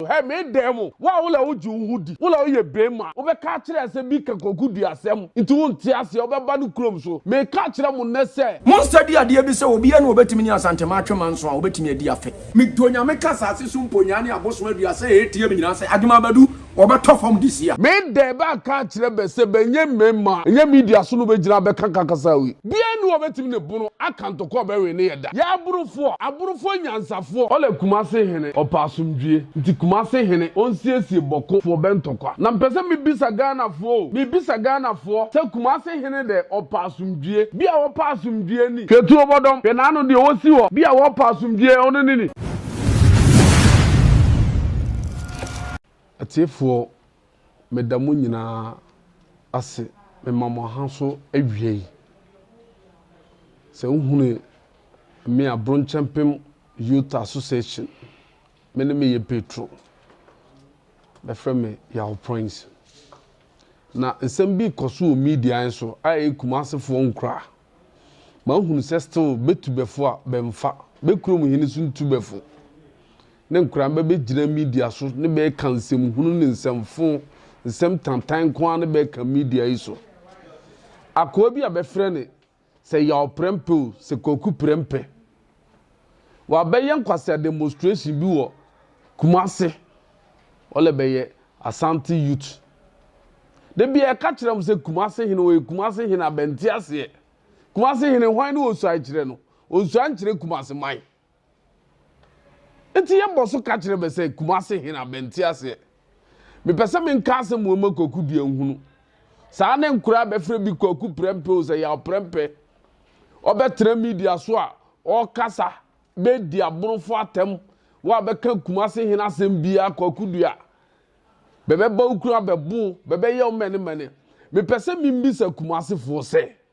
Hɛ me dan mu. Wo a wo lɛ wogye wo ho di, wo lɛ woyɛ beema, wobɛka akyerɛ yɛ sɛ bi ka Kwaku Duah asɛm nti wonte aseɛ, wobɛba ne kurom so. Meka akyerɛ mo nnɛ sɛ. Monstudy adeɛ bi sɛ obiara ne ɔbɛtumi ne Asantema atwe manso a ɔbɛtumi adi afe. Me dɔ Nyame ka asase so mponyaa ne abosom aduasa a ɛretie me nyinaa sɛ Adwuma Badu wɔbɛtɔ fam this year. Me dan bɛanka akyerɛ bɛ sɛ bɛnyɛ mmeema, ɛnyɛ media so na wobɛgyina abɛka ka kasa wei. Biaa nni hɔ ɔbɛtumi ne bono aka ntɔkwa ɔbɛwee ne yɛ da. Yɛ aborofoɔ, aborofoɔ nyansafoɔ. Ɔlɛ Kumasi hene ɔpɛ asomdwie nti Kumasi hene ɔnsiesie bɔko foɔ bɛ ntɔkwa na mpɛ sɛ me bisa Ghanafoɔ o me bisa Ghanafoɔ sɛ Kumasi hene dɛ ɔpɛ asomdwie bia wɔpɛ asomdwie ni hwɛ tuo bɔdɔm hwɛ naano deɛ ɔsi hɔ bia wɔpɛ asomdwie ɔno ne ni atiefoɔ. meda mo nyinaa ase mema mo aha so awia yi. Sɛ wohunu me a, Bronkyɛmpem Youth Association, me ne me yɛ Petro. Bɛfrɛ me Yaw Proince. Na nsɛm bi kɔ so wɔ media yi so a ɛyɛ Kumasefoɔ nkura. Mahunu sɛ still bɛtubɛfo a bɛmfa, bɛkurom hene so ntubɛfo. ne nkoraa bɛbɛgyina media so ne bɛɛka nsɛm hunu ne nsɛm fo, nsɛm tantan nko ara ne bɛɛka media yi so. Akoa bi a bɛfrɛ ne sɛ Yaw Prɛmpeo sɛ Kwaku Prɛmpɛ. Wabɛyɛ nkwasea demonstration bi wɔ Kumase. Ɔlɛ bɛyɛ Asante youth. Da bia ɛka kyerɛ mo sɛ Kumase hene ɔyɛ Kumase hene a bɛnte aseɛ. Kumase hene hwan ne ɔnsuae kyerɛ no? Ɔnsuae nkyerɛ Kumase man. Enti yɛbɔ so ka kyerɛ bɛ sɛ, Kumase he na bɛnte aseɛ. Mepɛ sɛ menka asɛm wei ma Kwaku deɛ nhunu. Saa ne nkoraa bɛfrɛ bi Kwaku Prɛmpɛ o, sɛ Yaw Prɛmpɛ. Ɔbɛtena media so a, ɔɔkasa, bɛɛdi aborofo atɛm, woabɛka Kumase he asɛm biaa Kwaku deɛ a, bɛbɛba wo kunu abɛbo wo, bɛbɛyɛ wo mɛnemɛne. Mepɛ sɛ membisa Kumasefoɔ sɛ.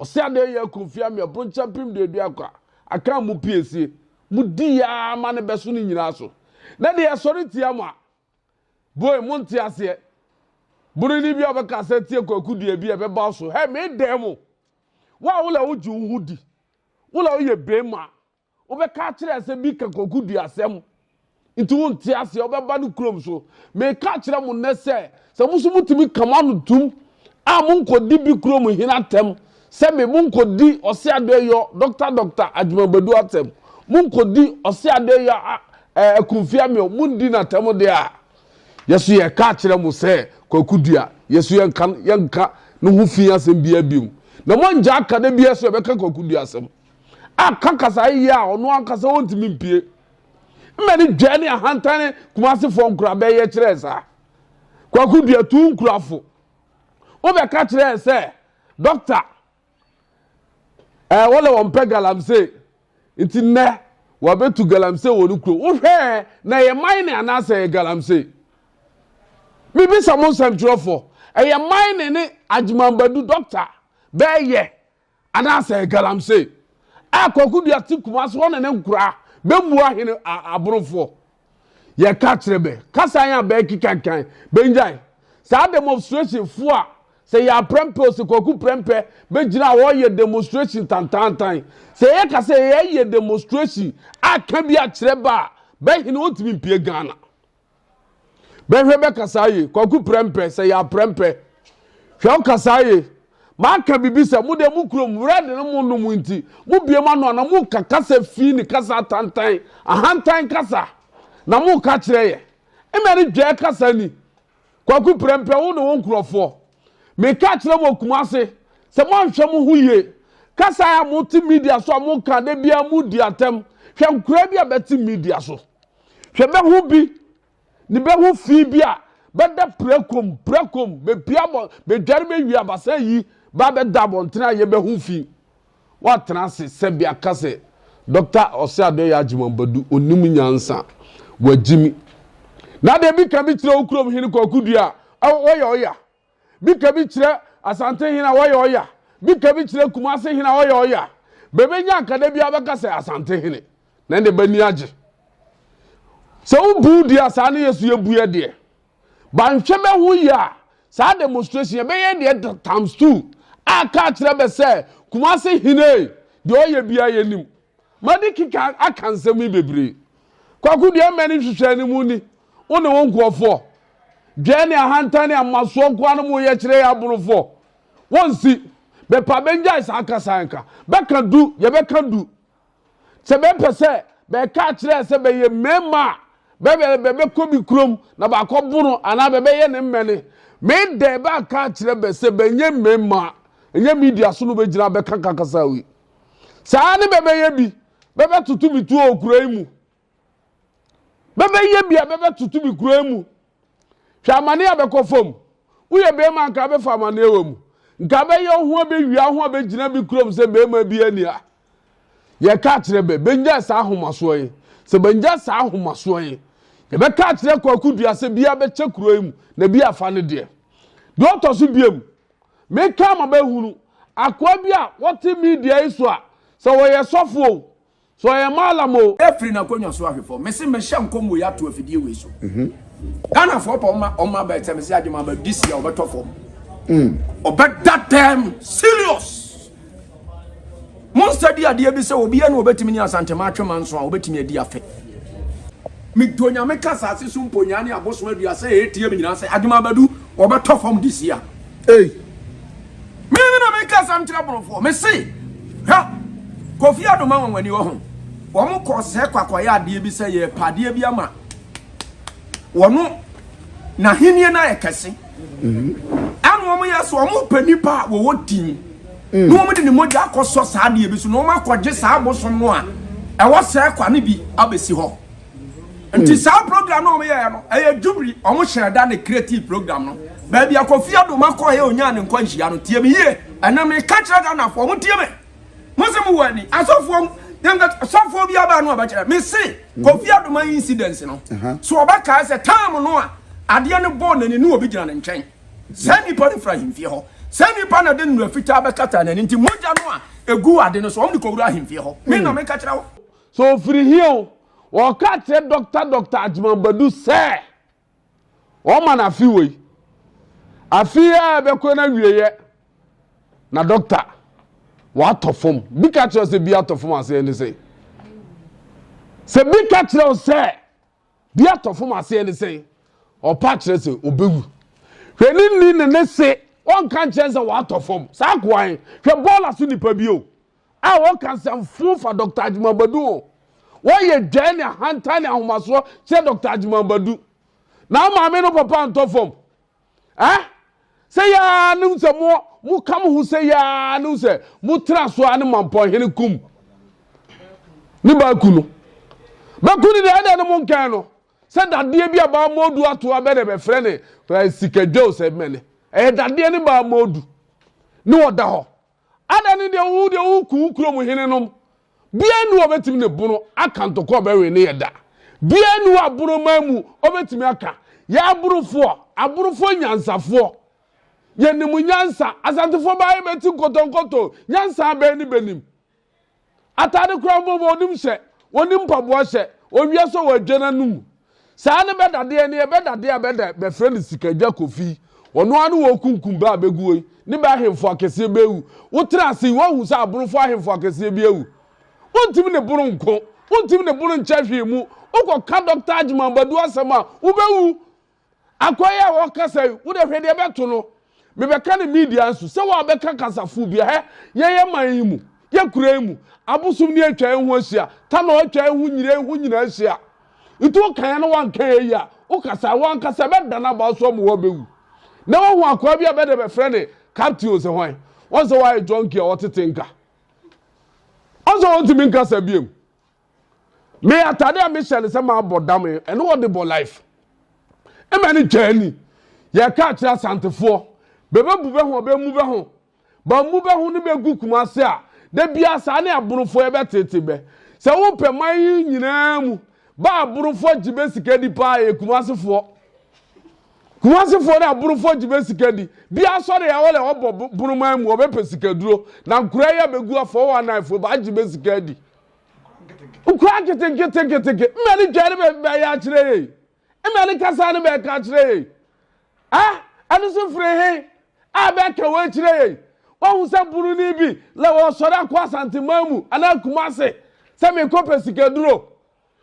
Ɔse adɛn yɛ aku mfeɛ amia bronkyɛ mpem duadu akwa aka mu pie sie mo di yaa ma ne bɛso ne nyinaa so na de yɛsɔre tia mo a boy mo nte aseɛ boroni bi a ɔbɛka sɛ tie kwaku deɛ bi a ɛbɛba so hɛ me dɛn mo wo a wola wogye wo ho di wola woyɛ bɛma Wobɛka akyerɛ sɛ bi ka kokoduasɛm nti wonte aseɛ wobɛba no kurom so meka kyerɛ mo nnɛ sɛ sɛ mo so motumi ka mo ano tum a monkɔdi bi kurom hene atɛm sɛ me monkɔdi ɔse adɔyɔ dɔkta dɔkta adwumabadu atɛm monkɔdi ɔse adɔyɔ akumfia meɔ mondi no atɛm deɛ a yɛso yɛka kyerɛ mo sɛ kwakudua yɛso yɛnka yɛnka ne ho fi asɛm biaa biom na moangya aka da biaa so yɛbɛka kwakudua asɛm aka kasae yie a ɔno ankasa ɔntumi mpie. Mma ne dwa ne ahantane kumasefoɔ nkura bɛyɛ kyerɛɛ saa. Kwaku dua tu nkurafo. Wobɛka kyerɛɛ sɛ dɔkta ɛɛ wɔlɛ wɔn pɛ galamsey nti nnɛ wɔabɛtu galamsey wɔ ne kuro. Wohwɛɛ na ɛyɛ man ne anaasɛ ɛyɛ galamsey? Mebisa mo nsɛmtwerɛfoɔ ɛyɛ man ne ne agyemanbadu dɔkta bɛɛyɛ Anaasɛ galamsey a kwaku dua te Kumasi hɔ ne ne nkoraa bɛmmua hene a aborofoɔ? Yɛka kyerɛ bɛ, kasa yɛn a bɛɛke kankan, bɛnnyae. Saa demonstration foɔ a sɛ yɛ aprɛmpɛ o, sɛ kwaku prɛmpɛ bɛgyina a ɔɔyɛ demonstration tantaantan. Sɛ yɛ ka sɛ yɛɛyɛ demonstration a ka bi akyerɛ bɛ a, bɛ hene ɔntumi mpue Ghana. bɛhwɛ bɛkasa ye kwaku prɛmpɛ sɛ yɛ aprɛmpɛ hwɛ ɔkasa ye maka bibi sɛ mo deɛ mo kurom wura de no mo nom nti mo bie ma no ana mo ka kasa fi ne kasa atantan ahantan kasa na mo ka kyerɛ yɛ mmɛ ne dwɛ kasa ni kwaku prɛmpɛ wo ne wo nkurɔfoɔ meka kyerɛ mo kuma ase sɛ moanhwɛ mo ho yie kasa a mote media so a moka da biara modi atɛm hwɛ nkora bi a bɛte media so Hwɛ bɛho bi ne bɛho fi bi a bɛda pirakom pirakom bɛpia bɔ bɛdware bɛwie abasa yi ba bɛda abɔntene a yɛ bɛho fi wɔatena ase sɛbi aka sɛ Dɔkta Ɔseadɔyɛ Agyeman Badu ɔnim nyansa wagyimi na deɛ bi ka bi kyerɛ wo kurom hene Kwaku Dua a ɔyɛ ɔya Bika bi kyerɛ Asante hene a ɔyɛ ɔya. Bika bi kyerɛ Kumase hene a ɔyɛ ɔya. Bɛbɛnya a kada biara bɛka sɛ Asante hene. Na ɛnde b'ani agye. Sɛ wo buu deɛ a saa ne yɛ so yɛ bu yɛ deɛ. Banhwɛ bɛ ho yie a saa demonstration yɛ bɛyɛ deɛ times two a kaa kyerɛ bɛ sɛ Kumase hene deɛ ɔyɛ biara yɛ nim. Madi keka aka nsɛm yi bebree. Kwaku deɛ mmɛ ne nhwehwɛɛ no mu ni, wo ne wo nkurɔfoɔ. Dwɛɛ ne ahantan ne amasoɔ nkoa no mo yɛ kyerɛ yɛ aborofoɔ. Wo nsi. Bɛpa bɛngyae saa kasa yi nka. Bɛka du, yɛ bɛka du. Sɛ bɛ pɛ sɛ bɛka akyerɛ sɛ bɛ yɛ mɛɛma a, bɛ bɛ bɛ bɛ kɔ bi kurom na bɛakɔ bono anaa bɛ bɛ yɛ ne mmɛne. Me dɛ bɛaka akyerɛ bɛ sɛ bɛ nyɛ mɛɛma a, ɛnyɛ media so no bɛ gyina bɛka ka kasa yi. saa ara ne bɛbɛyɛ bi bɛbɛtoto bi tuo wɔ kuro yi mu bɛbɛyɛ bi a bɛbɛtoto bi kuro yi mu hwɛ amane a bɛkɔ fam woyɛ bɛrima nka bɛfa amaneɛ wɔ mu nka bɛyɛ ho bɛwia ho a bɛgyina bi kurom sɛ bɛrima bi ani a yɛka kyerɛ bɛ bɛnya saa ahomasoɔ yi sɛ bɛnya saa ahomasoɔ yi yɛbɛka kyerɛ kwakodua sɛ bia bɛkyɛ kuro yi mu na bi afa no deɛ deɛ ɔtɔ so biam Meka ma bɛhunu akoa bi a ɔte media yi so a, sɛ ɔyɛ sɔfo o, sɛ ɔyɛ mallam o, Firi n'akonnwa so ahwɛ fam. Mese mehyɛ nkɔm wei ato afidie wei so. Ghanafoɔ pɛ ɔma ɔma bɛ sɛ mese agye ma bɛ this year ɔbɛtɔ fam. Ɔbɛda dɛm serious. Monsa di adeɛ bi sɛ obiara na obetumi ne Asantema atwe manso a obetumi adi afe. Medɔ Nyame ka asase so mponyaa ne abosom aduasa a ɛreteam nyinaa sɛ adom abɛdu wɔbɛtɔ fam this year. Ei! Me me na meka asɛm kyerɛ Borɔfoɔ. Mese, hwɛ, Kofi Adoma anwanwani wɔ ho. Wɔn kɔɔ sɛ kɔ akɔyɛ adeɛ bi sɛ yɛrepɛ adeɛ bi ama. wɔn n'ahenni no ayɛ kɛse ɛna wɔn yɛ so wɔn pɛ nipa a wɔwɔ din na wɔn de ne mogya akɔsɔ saa adeɛ bi so na wɔn akɔgye saa abosom no a ɛwɔ sɛ kwa no bi abɛsi hɔ nti saa program no wɔn yɛ no ɛyɛ jubiri wɔn hyɛ da ne creative program no baabi akɔfi adoma kɔɔ yɛ onyaa ne nkwanhyia no tie me yie ɛnam ne kakyira ghana fo wɔn tie me. Mo se mo wɔ ani asɔfoɔ mu Dem ka sɔfoɔ bi aba no ɔbɛkyerɛ Me se Kofi Adoman incidence no So ɔbɛkae sɛ time no a adeɛ no bɔɔ n'ani no obi gyina ne nkyɛn Saa nipa no firi ahemfie hɔ Saa nipa na de nnura fitaa bɛkata n'ani nti mogya no a egu ade no so wɔn de kɔwura ahemfie hɔ Me na meka kyerɛ wo. So ofiri he o Wɔka kyerɛ Doctor Doctor Agyeman Badu sɛ. Wɔma no afe wei. Afe yi a ɛbɛkɔ no awieeɛ na dɔkta watɔ fam. Bi ka kyerɛ sɛ bi atɔ fam aseɛ ne sɛn? Sɛ bi ka kyerɛ wo sɛ bi atɔ fam aseɛ ne sɛn? Ɔpa kyerɛ sɛ ɔbɛwu. Hwɛ ne ni ne ne se ɔnka nkyɛn sɛ watɔ fam. Saa koan hwɛ bɔɔla so nipa bio. a wɔka nsɛm fo fa Dɔkta Agyemang Badu ho. Wɔyɛ dwae ne ahantan ne ahomasoɔ kyerɛ Dɔkta Agyemang Badu. Na wo maame no papa ntɔ fam. Eh? Sɛ yaa ne sɛ mo mo ka mo ho sɛ yaa ne sɛ mo tra so a ne mampɔnhene kum ne baaku no. Bɛku ne deɛ ɛdɛ no mo nkɛn no sɛ dadeɛ bi a baa mɔdu ato abɛ dɛ bɛfrɛ ne eh, sikadwa o sɛ mɛne ɛyɛ dadeɛ ne baa mɔdu ne ɔda hɔ Adɛn ne deɛ wo deɛ woku wo kurom henenom? Biara nni hɔ a ɔbɛtumi ne bono aka ntɔkwa a ɔbɛwe ne yɛ da. Biara nni hɔ a boroman mu ɔbɛtumi aka. Yɛ aborofoɔ, aborofoɔ nyansafoɔ, yɛnim nyansa. Asantefoɔ baa yɛbɛti nkɔtɔnkɔtɔ, nyansa bɛn ne bɛnim? Atade koraa mpo ma ɔnim hyɛ, ɔnim mpaboa hyɛ, ɔwie nso wadwa n'anom. Saa ne bɛdadeɛ no yɛ, bɛdadeɛ a bɛda bɛfrɛ no Sikadwa Kofi yi, ɔno ara ne wɔrekunkum bɛ a bɛguo yi, ne bɛ ahemfo akɛseɛ bɛ awu. Wotena ase yi, woahu sɛ Aborofoɔ ahemfo akɛseɛ bi awu? Wontumi ne bono nko, wontumi ne bono nkyɛ hwee mu, wokɔka Dɔkta Agyeman Badu asɛm a, wobɛwu. Akwa yi a wɔkasa yi, wo de hwɛ deɛ ɛbɛto no. Mebɛka no media nso, sɛ wɔabɛka kasafoɔ bi a, hɛ, yɛn yɛ man yi mu, yɛ kura yi mu, abosom ni atwa yɛn ho ahyia, tanɔ atwa yɛn ho, nyire yɛn ho nyinaa ahyia. Nti woka yɛn na woanka yɛn yi a, wokasa a, wo ankasa ɛbɛdane aba wo so ama woabɛwu. Nnɛ woahu akwaa bi a bɛde bɛfrɛ no Captain Ose hwan? Wahu sɛ wayɛ junkie a ɔtete nka. Wahu sɛ ɔntumi nkasa biom. me atade a mehyɛ no sɛ mabɔ dam ɛne wɔde bɔ life ɛma ne twaa ni yɛka akyerɛ asantefoɔ bɛbɛbu bɛ ho bɛmu bɛ ho bamu bɛ ho ne bɛgu kuma ase a da biara saa ne aborofoɔ yɛbɛtete bɛ sɛ wopɛ man yi nyinaa mu ba aborofoɔ gye bɛ sika di paa yɛ kuma asefoɔ Kumasefoɔ ne aborofoɔ gye bɛ sika di. Bi asɔre a wɔlɛ wɔbɔ boroman mu wɔbɛ pɛ sika duro. Na nkura yi a bɛ gu a 419 foɔ baa gye bɛ sika di. Nkura keteketeketeke. Mmɛ ne twɛ ne bɛ bɛ yɛ akyerɛ yɛ yi. Mmɛ ne kasa ne bɛ ka akyerɛ yɛ yi. Ah, ɛno so firi he a bɛ ka wɔ akyerɛ yɛ yi. Wɔhu sɛ buroni bi lɛ wɔsɔre akɔ asanteman mu anaa kumase sɛ mekɔ pɛ sika duro.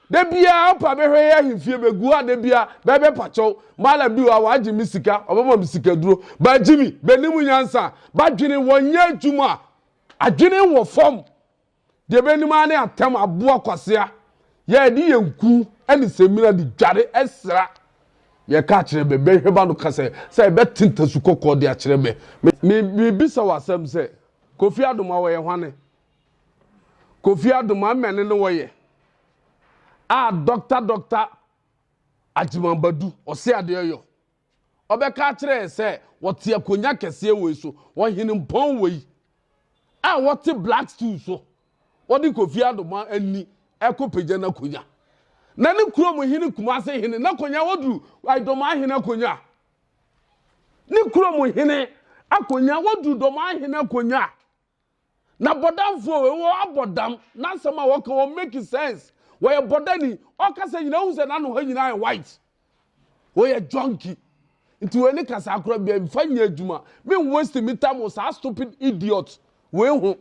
da biara ɔpa bɛhwɛ yɛ ahemfie bɛgu a da biara bɛbɛ pakyɛw mala bi wa wagye me sika ɔbɛma me sika duro ba gyimi bɛnim nyansa badwene wɔnyɛ adwuma adwene wɔ fam deɛ bɛnim ara ne atɛm aboa kwasea yɛde yɛn ku ne sɛmina de dware ɛsra yɛka akyerɛ bɛ bɛhwɛ ba no ka sɛ sɛ ɛbɛte ntasu kɔkɔɔ de akyerɛ bɛ mebisa wɔ asɛm sɛ kofi adoma wɔyɛ hwane Kofi Adom amɛne no wɔyɛ a dɔkta dɔkta Agyeman Badu ɔse adeɛ yɔ. Ɔbɛka akyerɛ yɛ sɛ wɔte akonnwa kɛseɛ wei so, ɔhene mpɔn wei a wɔte black stool so, wɔde Kofi Adom ani ɛkɔ pagya n'akonnwa. Na ne kurom hene Kumase hene n'akonnwa wɔduru Dɔmaa hene akonnwa. Ne kurom hene akonnwa wɔduru Dɔmaa hene akonnwa. na bɔdamfoɔ wei wɔ abɔ dam n'asɛm a wɔka wɔ make sense wɔyɛ bɔdani ɔkasa nyinaa wohu sɛ n'ano hɔ nyinaa yɛ white wɔyɛ junkie nti wei ne kasa akora bia mfa nyɛ adwuma me waste me time wɔ saa stupid idiot wei ho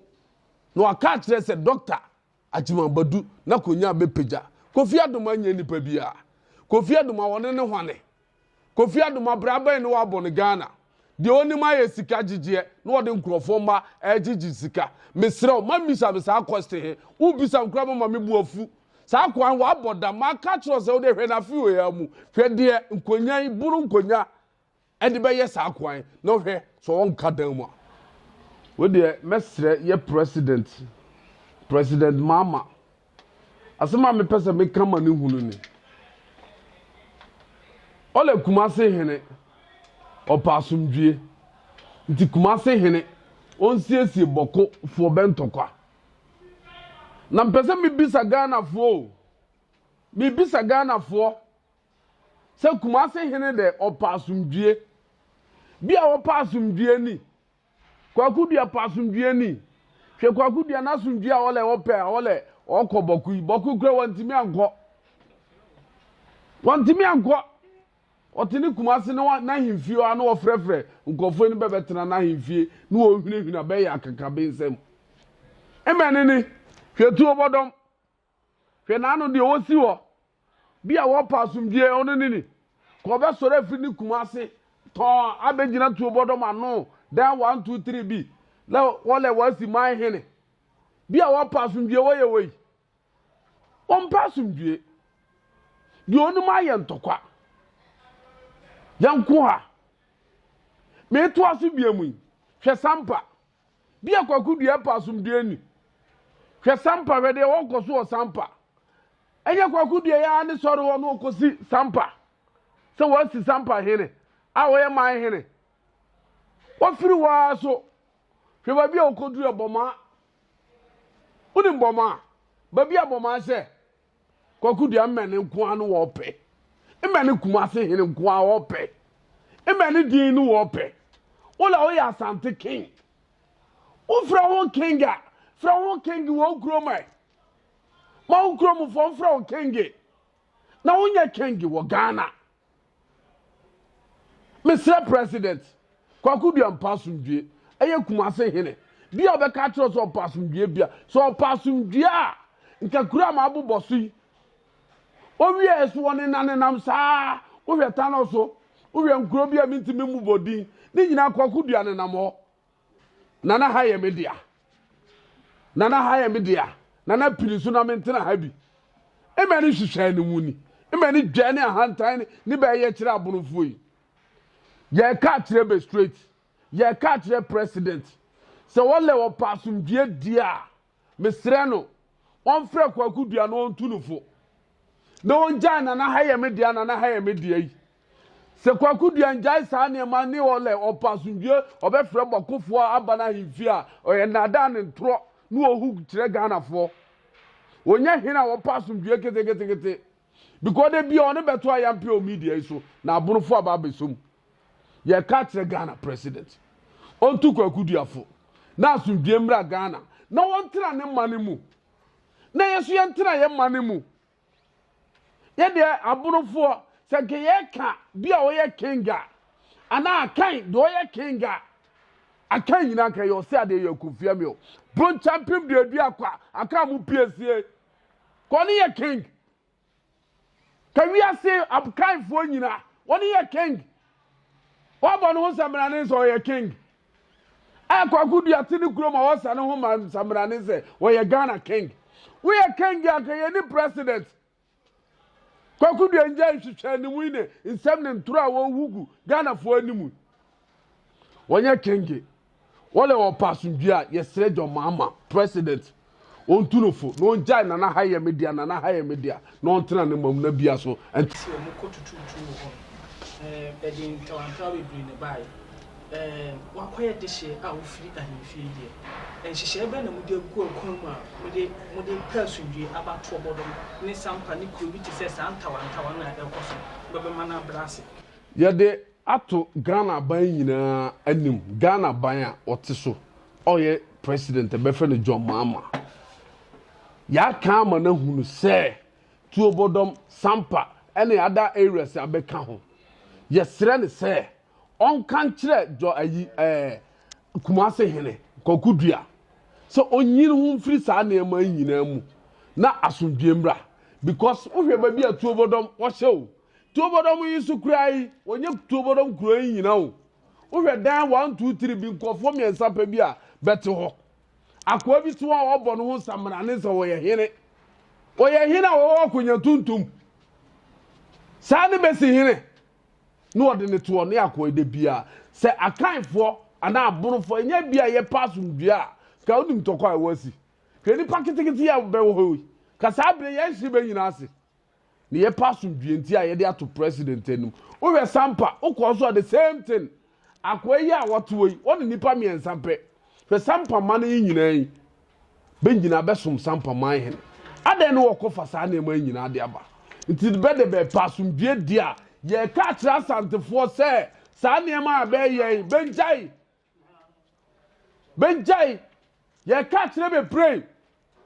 na waka akyerɛ sɛ doctor Agyima Badu na Konyaa bɛpagya Kofi Adoma nyɛ nipa biaa Kofi Adoma wɔne no hwane Kofi Adoma bra bɛn ne wabɔ no Ghana deɛ ɔnim ayɛ sika gyegyeɛ na ɔde nkorɔfoɔ mma ɛgyegye sika mesrɛ wo ma mmisa me saa question he wo bisa me koraa bɛma me bo afu saa akoa he wabɔ dam maka akyerɛ wo sɛ wode hwɛ no afe wei ara mu hwɛ deɛ Nkonyaa yi boro Nkonyaa ɛde bɛyɛ saa kwan na hwɛ sɛ ɔnka dan mu a. Wei deɛ mɛsrɛ yɛ president president maama asɛm a mepɛ sɛ meka ma ne hunu ni ɔlɛ kumase hene ɔpɛ asomdwie nti kumase hene ɔnsiesie bɔko foɔ bɛntɔkwa na mpɛ sɛ mebisa ghanafoɔ o mebisa ghanafoɔ Sɛ Kumase hene dɛ ɔpɛ asomdwie. Bi a ɔpɛ asomdwie ni. Kwaku Dua pɛ asomdwie ni. Hwɛ Kwaku Dua n'asomdwie a ɔlɛ ɔpɛ a ɔlɛ ɔkɔ Bɔko yi. Bɔko kura wɔntumi ankɔ. Wɔntumi ankɔ. Ɔte ne Kumase ne n'ahemfie hɔ a na ɔfrɛfrɛ nkurɔfoɔ ni bɛbɛtena n'ahemfie ne wɔhwinahwina bɛyɛ akakabensɛm. Mmɛne ni. Hwɛ tuo bɔdɔm. Hwɛ n'ano deɛ ɔsi hɔ. Bi a wɔpɛ asomdwie, ɔno ne ni. Ka ɔbɛsɔre afiri ne kuma ase tɔnn abɛgyina tuo bɔdɔm ano, dan one, two, three bi, na wɔlɛ wɔasi man hene. Bi a wɔpɛ asomdwie, wɔyɛ wei. Wɔmpɛ asomdwie. Deɛ ɔnim ayɛ ntɔkwa. Yɛnko ha. Meetoa so bia mu yi, hwɛ Sampa. Bi a Kwaku Duah pɛ asomdwoeɛ ni. Hwɛ Sampa, hwɛ deɛ ɔrekɔ so wɔ Sampa. Ɛnyɛ Kwaku Duah yi ara ne sɔre hɔ na ɔkɔsi Sampa sɛ wɔasi Sampa hene a ɔyɛ man hene. Wafiri hɔ ara so. Hwɛ baabi a ɔkɔduru ɛ, Bɔmaa. Wonim Bɔmaa? Baabi a Bɔmaa hyɛ Kwaku deɛ mmɛne nko ara no wɔpɛ. Mmɛne Kumase hene nko ara wɔpɛ. Mmɛne din no wɔpɛ. Wola woyɛ Asante king. Wofrɛ ho king a, frɛ ho king wɔ wo kurom ɛ. Ma wo kuromfoɔ mfrɛ wo king. Na wonyɛ king wɔ Ghana. Mesrɛ President Kwaku Duah mpɛ asomdwoe. Ɛyɛ Kumase hene bi a ɔbɛka akyerɛ wo sɛ ɔpɛ asomdwoe bi a, sɛ ɔpɛ asomdwoe a, nka kuro a mabobɔ so yi, ɔwiaɛ so ɔnenanenam saa, wohwɛ Tanɔ so, wohwɛ nkuro bi a mentumi mmobɔ din, ne nyinaa Kwaku Duah nenam hɔ. Nana ha yɛ me dea. Nana ha yɛ me dea. Nana pini so na me ntena ha bi. Mmɛ ne hwehwɛ ne mu ni. Mmɛ ne dwa ne ahantan ne ne bɛyɛ kyerɛ abonofoɔ yi. Yɛka akyerɛ bɛ straight. Yɛka akyerɛ president. Sɛ wɔlɛ wɔpɛ asomdwie die a, mesrɛ no, wɔmfrɛ Kwaku Dua na wɔntu no fo. Na wɔngyae Nana ha yɛ me dea, Nana ha yɛ me dea yi. Sɛ Kwaku Duan gyae saa nneɛma ne ɔlɛ, ɔpɛ asomdwoe, ɔbɛfrɛ bɔkofoɔ aba n'ahemfie a, ɔyɛ nnaadaa ne ntorɔ ne ohu kyerɛ Ghanafoɔ. Ɔnyɛ hene a ɔpɛ asomdwoe keteketekete because da biara ɔne bɛto ayampe wɔ media yi so na abonofoɔ aba abɛsɔ mu. Yɛreka akyerɛ Ghana President, ɔntu Kwaku Dua fo na asomdwoe mmra Ghana na wɔntena ne mane mu na yɛn nso yɛntena yɛn mane mu. Yɛ deɛ aborofoɔ sɛ nka yɛka bi a ɔyɛ king a anaa akan deɛ ɔyɛ king a akan nyinaa nka yɛ ɔsɛ adeɛ yɛ kofia mi o bronkyɛn pem deɛ adu akwa akan mu pie sie ka ɔne yɛ king ka wiase akanfoɔ nyinaa ɔne yɛ king wabɔ ne ho sɛ mmerane sɛ ɔyɛ king A Kwaku Dua te ne kurom a ɔsa ne ho ma nsambrane sɛ ɔyɛ Ghana King. Woyɛ King a anka yɛnni President. Kwaku Dua ngyae nhwehwɛanimu yi ne nsɛm ne ntoro a wɔrehu gu Ghanafoɔ anim yi. Wɔnyɛ King. Wɔlɛ ɔpɛ asomdwie a, yɛsrɛ John Mahama, President. Ɔntu no fo, na ɔngyae Nana ha yɛ me dea, Nana ha yɛ me dea, na ɔntena ne mamuna bia so nte. Sɛ wɔn kɔ tutuutuu wɔ hɔ no, eh, ɛde ntrawantrawa bebree na ɛbaeɛ. Eh, wɔakɔyɛ dehyeɛ a wofiri ahemfie deɛ. Nhyehyɛeɛ bɛn na mode agu akwan mu a mode, mode pɛ asomdwoeɛ, abatoɔ bɔdɔm, ne sampa ne kuro bi te sɛ saa ntawantawa no a ɛrekɔ so no bɛbɛma no abrɛ ase? Yɛde ato Ghana aban nyinaa anim, Ghana aban a ɔte so a ɔyɛ president a yɛbɛfrɛ no John Mahama. Yɛaka ama no ahunu sɛ Tuobodɔm, Sampa ne other areas a bɛka ho. Yɛsrɛ no sɛ ɔnka nkyerɛ Jɔ ayi ɛɛ Kumase hene Kwaku Dua sɛ ɔnyi ne ho mfiri saa nneɛma yi nyinaa mu na asomdwoeɛ mmra because wohwɛ baabi a Tuobodɔm wɔhyɛ o, Tuobodɔm yi so kura yi, wɔnyɛ Tuobodɔm kuro yi nyina o. Wohwɛ dan one two three bi nkurɔfoɔ mmiɛnsa pɛ bi a bɛte hɔ. Akoa bi so a ɔbɔ ne ho samina ne sɛ ɔyɛ hene. Ɔyɛ hene a ɔwɔ akonnwa tuntum. Saa ne bɛsi hene. Ne ɔde ne toɔ ne akoa da bia. Sɛ akanfoɔ anaa abonofoɔ ɛnyɛ bi a yɛpɛ asomdua a ka wonim tɔkɔ a ɛwɔ asi. Hwɛ nipa ketekete yi a bɛwɔ hɔ yi. Ka saa berɛ yɛn hye bɛ nyina ase. na yɛpɛ asomdwie nti a yɛde ato president anim wohwɛ sampa wokɔɔ so a the same thing akoa yi a wɔtoɔ yi wɔne nnipa mmiɛnsa pɛ hwɛ sampa ma no yi nyinaa yi bɛnyina bɛsom sampa man hene adɛn ne wɔkɔfa saa nneɛma yi nyinaa de aba nti bɛde bɛpɛ asomdwie di a yɛka akyerɛ asantefoɔ sɛ saa nneɛma a bɛyɛ bɛngyae Bɛgyae. Yɛka akyerɛ bebree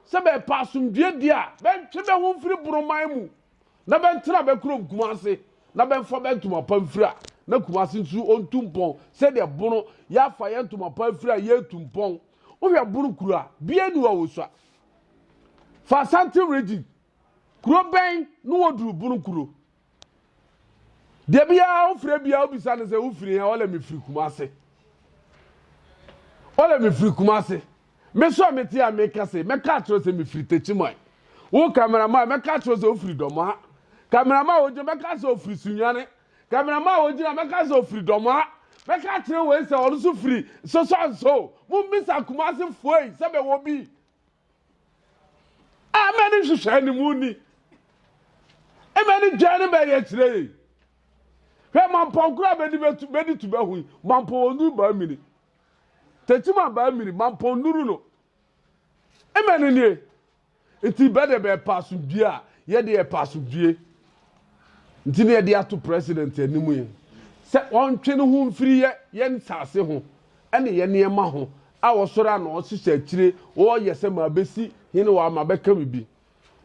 sɛ bɛrepɛ asomdwoeɛ deɛ a, bɛntwe bɛ ho mfiri Boroman mu na bɛntena bɛ kurom Kumase na bɛmfa bɛ ntoma pa mfiri a na Kumase nso ɔntu mpɔn sɛdeɛ Bono yɛafa yɛn ntoma pa afiri a yɛretu mpɔn. Wohwɛ Bono kuro a, bia nni hɔ a wɔsua. Fa Asante region kuro bɛn na wɔduru Bono kuro? deɛ biara wofrɛ biara wobisa no sɛ wofiri ha ɔlɛ mefiri kuma ase ɔlɛ mefiri kuma ase mesɔ mete a meka se mɛka akyerɛ sɛ mefiri takyiman wo kamerama mɛka akyerɛ sɛ wofiri dɔmaa kamerama wogyina mɛka sɛ ofiri sunwane kamerama wogyina mɛka sɛ ofiri dɔmaa mɛka akyerɛ wei sɛ ɔno so firi sosɔnso mommisa kuma ase foei sɛ bɛwɔ bi Ɛmɛ ne nhyehyɛe no mu ni. Ɛmɛ ne dwan no bɛyɛ kyerɛ yɛ. Hwɛ mampɔ nkoro a bɛdi bɛtu bɛdi tu bɛho yi mampɔ wɔn nuru baa mini. Tɛti ma baa mini mampɔ nuru no. Ɛmɛ ne nie. Nti bɛde bɛpɛ asomdwie a yɛde yɛpɛ asomdwie. Nti na yɛde ato President anim yi sɛ ɔntwe ne ho mfiri yɛ yɛn nsase ho ne yɛn nneɛma ho a ɔsɔre a na ɔhyehyɛ akyire ɔreyɛ sɛ mabɛsi hene wɔ ha, mabɛka biribi.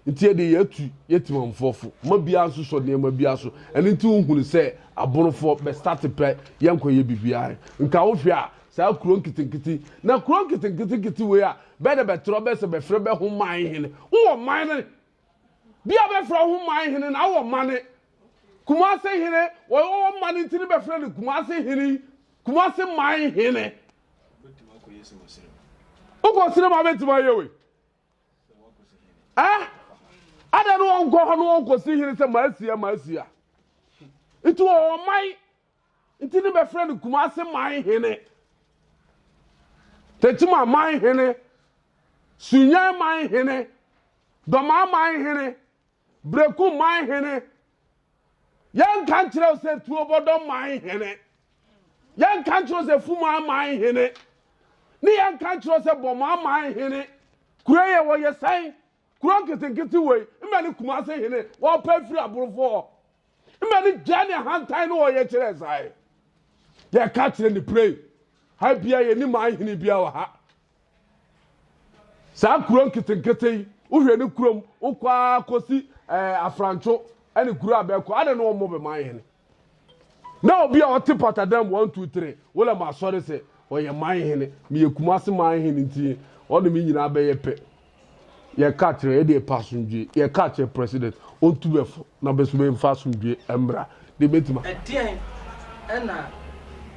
Nti yɛde yɛatu yɛ Temanfoɔ fo ma biara nsosɔ nneɛma biara so. Ɛno nti wohunu sɛ Abonofoɔ bɛstate pɛ yɛnkɔyɛ biribiara. Nka wohwɛ a saa kuro nketenkete yi, na kuro nketenketenkete wei a bɛɛ na bɛtrɛ bɛsɛ bɛfrɛ bɛ ho man hene. Wowɔ man no Bi a bɛfrɛ ho man hene na awɔ ma ne Kumase hene wɔwɔ ma ne nti ne bɛfrɛ no Kumase hene Kumase man hene. Wokɔ sere ma bɛtumi ayɛ wei eh? Ada ne wɔnkɔ hɔ ne wɔnkɔsi hene sɛ maasia maasia nti wɔwɔ man Nti ne bɛfrɛ no Kumase man hene, Tekyima man hene, Sunyɛn man hene, Dɔmaa man hene, Breku man hene. Yɛnka nkyerɛ wo sɛ Tuobɔdɔ man hene, yɛnka nkyerɛ wo sɛ Fumaa man hene, ne yɛnka nkyerɛ wo sɛ Bɔmaa man hene. Kuro yɛ wɔyɛ sɛn? Kuro nketenkete wei, mmɛ ne Kumase hene, wɔpɛ firi aborofo hɔ. mma ne gya ne ahantan no ɔyɛ kyerɛ saa ɛ yɛka kyerɛ ne pray ha bia yɛ ne ma ahene bia wɔ ha saa kuro nketenkete yi wohwɛ ne kurom wokɔ ara kɔsi ɛɛ eh, afrantwo ɛne kuro a bɛkɔ adɛ ne wɔmmɔ bɛma ahene na obi a ɔte patadam one two three wọlé ma asɔre sɛ ɔyɛ man hene meyɛ kumase man hene nti ɔne me nyinaa bɛyɛ pɛ yɛ ka kyerɛ yɛ deɛ pɛ asomdwie yɛ ka kyerɛ president ɔntu bɛ fo na bɛ so bɛ nfa asomdwie ɛmmra deɛ bɛ tuma. Ɛdeɛn ɛna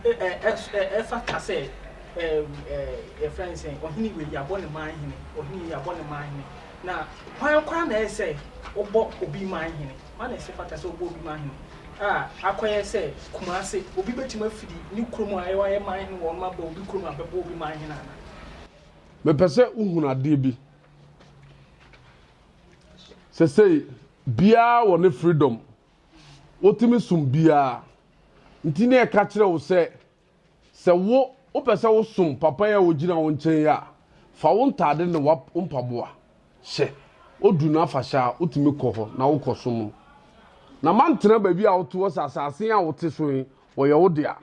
ɛfata sɛ yɛfrɛ no sɛ ɔhene wei yɛabɔ ne man hene ɔhene wei yɛabɔ ne man hene na hwan koraa na ɛyɛ sɛ wobɔ obi man hene hwan na ɛsɛ fata sɛ wobɔ obi man hene a akɔyɛ sɛ Kumase obi bɛtumi afiri ne kurom a ɛwɔ ayɛ man hene wɔ ɔnom abɔ obi kurom a bɛbɔ obi man hene ana Mepɛ sɛ wohunu adeɛ bi. Sɛsei, biara wɔ ne freedom. Wotumi som biara. Nti ne ɛka kyerɛ wo sɛ, sɛ wo wopɛ sɛ wosom papa yi a wogyina wo nkyɛn yi a, fa wo ntaade ne wo mpaboa hyɛ. Odu no afahyɛ a, wotumi kɔ hɔ na wokɔsom no. Na mantena baabi a wote hɔ sɛ asase a wote so yi, wɔyɛ wo dea.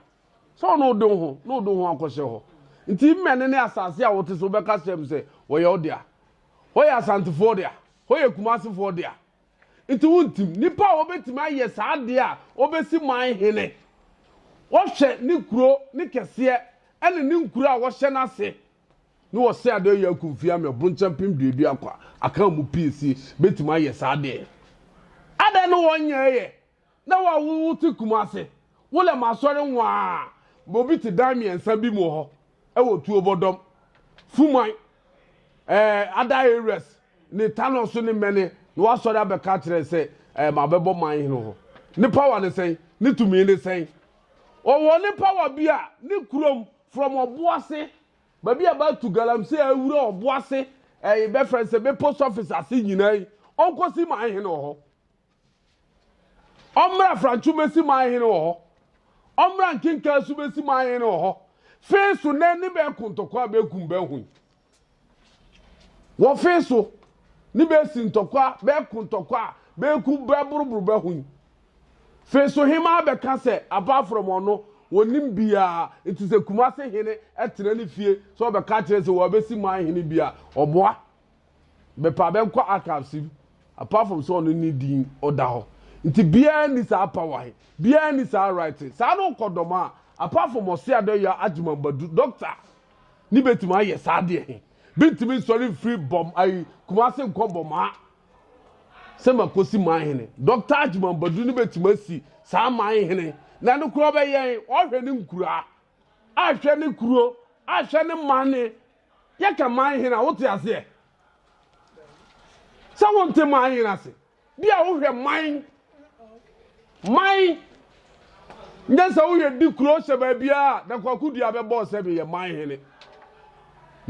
sɛ ɔno wode wo ho na wode wo ho akɔhyɛ hɔ nti mmɛne ne asase a wote so wobɛka kyerɛ m sɛ wɔyɛ wo dea hɔ yɛ asantefoɔ dea hɔ yɛ kumasefoɔ dea nti wontim nnipa a wɔbɛtumi ayɛ saa deɛ a wɔbɛsi man hene wɔhwɛ ne kuro ne kɛseɛ ɛne ne nkuro a wɔhyɛ no ase ne wɔsɛ adeɛ yɛ akumfie ama ɛbonkyɛn pem duadua kwa aka mu pii si bɛtumi ayɛ saa deɛ adɛn no wɔnyɛɛyɛ Na wo a wo ho te kumase, wo lɛ m'asɔre nwaa ma obi te dan mmiɛnsa bi mu hɔ wɔ tuo bɔdɔm, fuman, ɛɛ, ada areas ne tanɔ so ne mɛne na wasɔre abɛka akyerɛ sɛ ɛɛ ma bɛbɔ man hene hɔ. Ne power ne sɛn? Ne tumi ne sɛn? Ɔwɔ ne power bi a ne kurom from ɔboase baabi a bɛatu galamsey awura ɔboase ɛɛ bɛfrɛ sɛ bɛ post office ase nyinaa yi ɔnkɔsi man hene wɔ hɔ. Ɔmmra Franco mɛsi man hene wɔ hɔ Ɔmmra nkenkaa so mɛsi man hene wɔ hɔ Fee so nɛ ne bɛɛ kontɔkwa bɛɛ kum bɛɛ hoi Wɔ fee so ne bɛɛ si ntɔkwa bɛɛ kontɔkwa bɛɛ kum bɛɛ boroboro bɛɛ hoi Fee so hemaa bɛka sɛ apart from ɔno wɔnim biaa nti sɛ Kumase hene tena ne fie sɛ ɔbɛka kyerɛ sɛ wɔabɛsi man hene bi a ɔboa bɛpɛ a bɛnkɔ archives mu apart from sɛ ɔno ne din ɔda hɔ nti biara ni saa power he biara ni saa right saa na ɔkɔ dɔm a apart from ɔse adɔyɛ agyimambadu doctor ne bɛtumi ayɛ saa deɛ he bɛntumi nsɔre mfiri bɔm ayi kumase nkɔ bɔmaa sɛ makosi man hene doctor agyimambadu ne bɛtumi asi saa man hene na no kura ɔbɛyɛn ɔhwɛ ne nkuraa ahwɛ ne kuro ahwɛ ne mane Yɛka man hene a, wote aseɛ? Sɛ wonte man hene ase, bi a wohwɛ man, man, nyɛ sɛ woyɛ di kuro hyɛ baabiara na kwakodua bɛbɔ sɛ meyɛ man hene.